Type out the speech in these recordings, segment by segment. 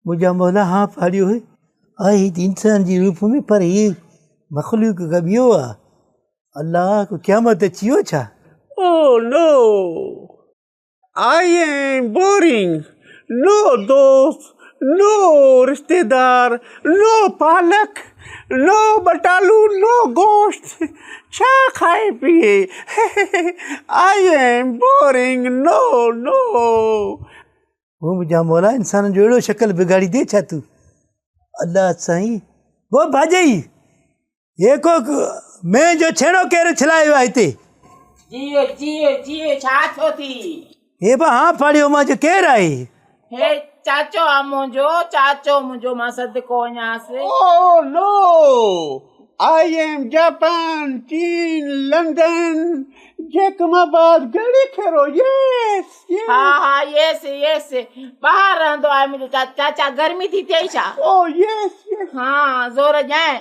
منهنجا مولا ها ڦاڙيو هي آء هت انسان جي روپ ۾ پر هي مخلوق ڪا ٻيو آ الله ڪو قيامت اچي ويو ڇا؟ Oh no I am boring no دوست نو رشتيدار نو پالڪ نو ٻٽالو نو گوشت ڇا کائي پيئي I am boring no no. هو منهنجا مولا انسانن جو اهڙو شڪل بگاڙي ڏي ڇا تون الله سائين هو ڀاڄئي هي ڪو مينهن جو ڇيڻو ڪير ڇلايو آهي هتي. جيئي جيئي جيئي ڇا ٿيو ٿي. هي به هان ڦاڙيو مان جو ڪير آهي؟ هي چاچو آ منهنجو، چاچو منهنجو مان صدقو وڃانس. او لو! آء ايم جاپان، چين، London, Jacobabad, Garhi Khairo, yes! Yes! ها ها ييس! ييس! ٻاهر رهندو آهي منهنجو چاچو. چاچا گرمي ٿي ٿئي ڇا؟ Oh yes! ييس! ها زور ڏيانء؟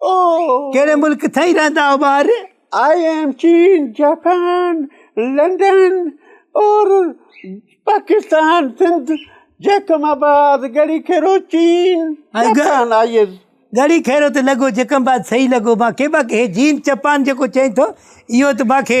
ڪهڙي ملڪ ٿئي رهندا آهيو ٻاهر آئي ايم چين جاپان لنڊن اور پاڪستان سنڌ جيڪم آباد گڙي کيرو چين Japan I is Garhi Khairo ته لڳو جيڪم آباد صحيح لڳو مانکي باقي هي جين جاپان جيڪو چئين ٿو اهو ته مانکي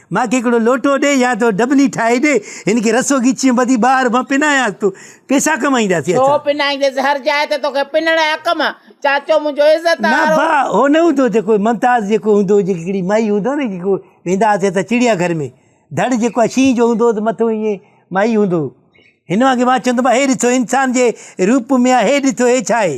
مان کي هڪڙو لوٽو ڏي يا تو ڊٻلي ٺاهي ڏي، هن کي رسو ڳچيء ٻڌي ٻاهر مان پنايانس، تون پئسا ڪمائينداسين ڇو اسان. پنائينديس هر جاء تي توکي پنڻ يا ڪم، چاچو منهنجو عزت نه وارو. ڀاء هو نه هوندو جيڪو ممتاز جيڪو هوندو هو جيڪي هڪڙي مائي هوندو نه جيڪو ويندا هئاسين اسان چڙيا گهر ۾ ڌڙ جيڪو آهي شينهن جو هوندو هو ته مٿو ائين مائي هوندو هو هن وانگي مان چوندم هي ڏسو انسان جي روپ ۾ آهي هي ڏسو هي ڇا آهي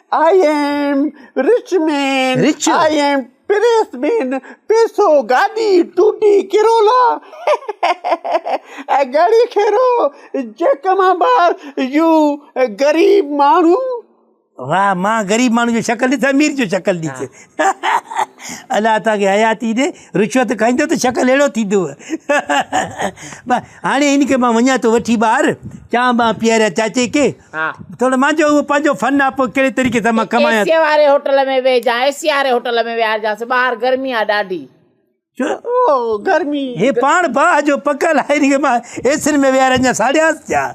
I am rich man rich I am press man پيسو گاڏي ٽوٽي ڪرولا ۽ گاڙي کيرو جيڪ مان بار يو غريب ماڻهو واھ مان غريب ماڻهو جو شڪل ڏس امير جو شڪل ڏس الله توهان کي حياتي ڏي رشوت کائيندو ته شڪل اهڙو ٿيندو هاڻي هن کي مان وڃان ٿو وٺي ٻاهر چانه ٻانه پياريان چاچي کي ٿورو مانجو اهو پنهنجو فن آ پوء ڪهڙي طريقي سان مان ڪمايان ايسيء واري هوٽل ۾ ويهجان ايسيء واري هوٽل ۾ ويهارجانس ٻاهر گرمي آ ڏاڍي ڇو او گرمي هي پاڻ باهه جو پڪل آهي هن کي مان ايسين ۾ ويهارجان ساڙيانس ڇا